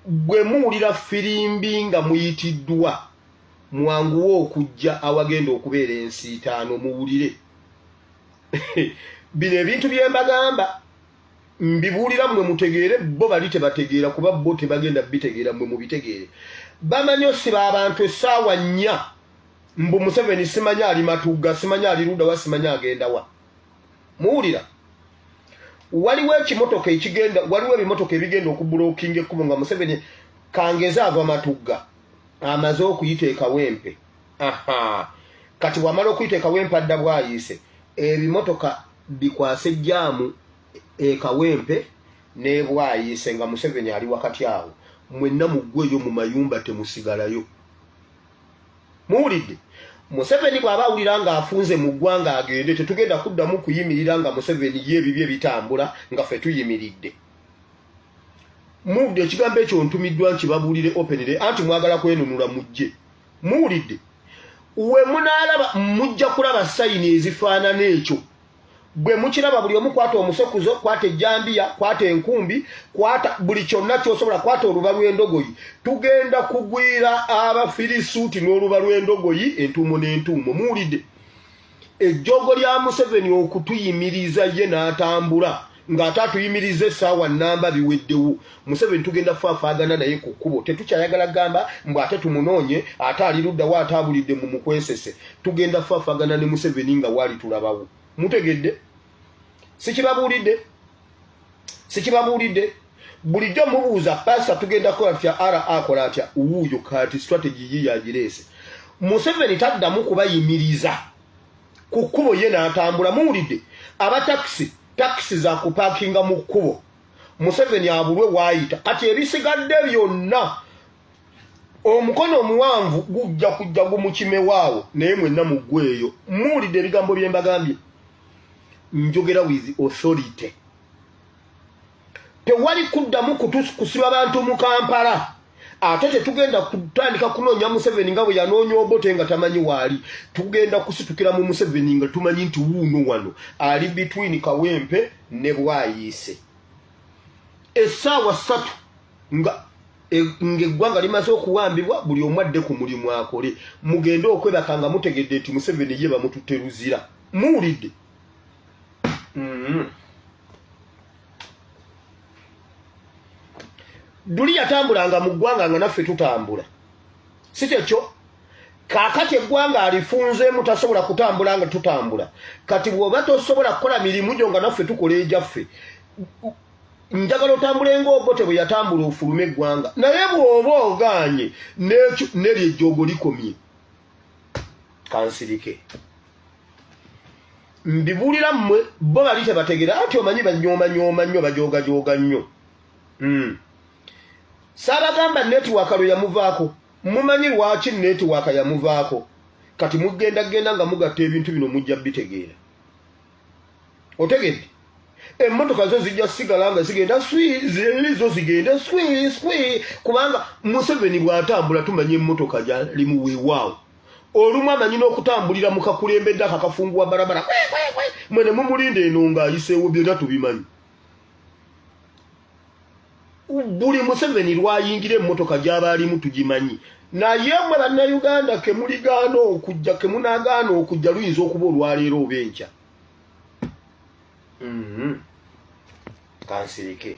gwe muwulira firimbi nga muyitiddwa mwanguwe okujja awagenda okubeera ensiitaano muwulire bino ebintu bye mbagamba mbibuulira mmwe mutegeere bo bali tebategeera kuba bo tebagenda bitegeera mmwe mubitegeere bamanyi osiba abantu essaawa nnya mbu museveni simanya ali matugga simanya ali ludawa simanya agendawa muwulira waliwo ekimotoka ekigenda waliwo ebimotoka ebigenda okubulokinga ekkubo nga museveni kangeze agwa matugga amaze okuyita ekawempe aha kati wamala okuyita ekawempe adda bwayiise ebimotoka bikwase jaamu ekawempe nebwayiise nga museveni ali wakati awo mwenna muggweyo mu mayumba temusigalayo muwulidde museveni bw'aba awulira ng'afunze mu ggwanga agende tetugenda kuddamu kuyimirira nga museveni ye ebibye bitambula nga fe tuyimiridde muwulidde ekigambo ekyo ntumiddwa nti babuulire openire anti mwagala kwenunula mujje muwulidde we munaalaba mujja kulaba sayini ezifaanana ekyo bwe mukiraba buli omu kwata omusokuzo kwata ejjambiya kwata enkumbi kwata buli kyonna kyosobola kwata oluba lw'endogoyi tugenda kugwira abafirisuuti n'oluba lw'endogoyi entuumo n'entuumo muwulidde ejjoogo lya museveni okutuyimiriza ye n'atambula ng'ate atuyimiriza essaawa nnamba biweddewo museveni tugenda faafaagana naye ku kkubo tetukyayagala gamba mbu ate tumunoonye ate ali luddawo ate abulidde mu mukwesese tugenda faafaagana ne museveni nga waali tulabawo mutegedde sikibabuulidde sikibabuulidde bulijjo mubuuza pasa tugenda kukola tutya ara akola atya wuuyo kati strategy yiyagireese museveni taddamu kubayimiriza ku kkubo ye n'atambula muwulidde abatakisi takisi za kupakinga mu kkubo museveni abulwe waayita kati ebisigadde byonna omukono omuwanvu gujja kujja gumukimewaawo naye mwenna muggweeyo muwulidde ebigambo bye mbagambye njogera with authority tewali kuddamu kusiba bantu mu kampala ate tetugenda kutandika kunoonya museveni nga bwe yanoonya obote nga tamanyi waali tugenda kusitukira mu museveni nga tumanyi nti wuuno wano ali between kawempe ne bwayiise essaawa ssatu nga e, ngaeggwanga limaze okuwambibwa buli omu adde ku mulimu akole mugende okwebaka nga mutegedde nti museveni ye bamututte luzira muwulidde mm-hmm. duli yatambulanga mu ggwanga nga naffe tutambula si kyekyo kakati eggwanga alifunzeemu tasobola kutambula nga tutambula kati bw'oba tosobola kukola mirimu gyo nga naffe tukola egyaffe njagala otambule ngaobote bwe yatambula ofulume eggwanga naye bw'oba ogaanye neryo ejjoogo likomye kansirike mbibulira mmwe bo bali tebategera anti omanyi banyoomanyoma nnyo bajoogajooga nnyo hmm. saabagamba netiwaaka lwe yamuvaako mumanyi lwaki netiwaaka yamuvaako kati mugenda genda nga mugatta ebintu bino mujja bitegeera otegedde emmotoka zo zijja sigala nga zigenda zo zigenda swi swi kubanga museveni bw'atambula tumanya emmotoka gyali mu weewaawo olumu amanyi n'okutambulira mu kakulembedde akakafunguwa barabara mwene mumulinda eno ng'ayiseewo byonna tubimanyi buli museveni lwayingira emmotoka gyaba alimu tugimanyi naye mwe bannayuganda kemuligaana okujja kemunagaana okujja luyinza okuba olwaleero oba enkya mm-hmm. kansirike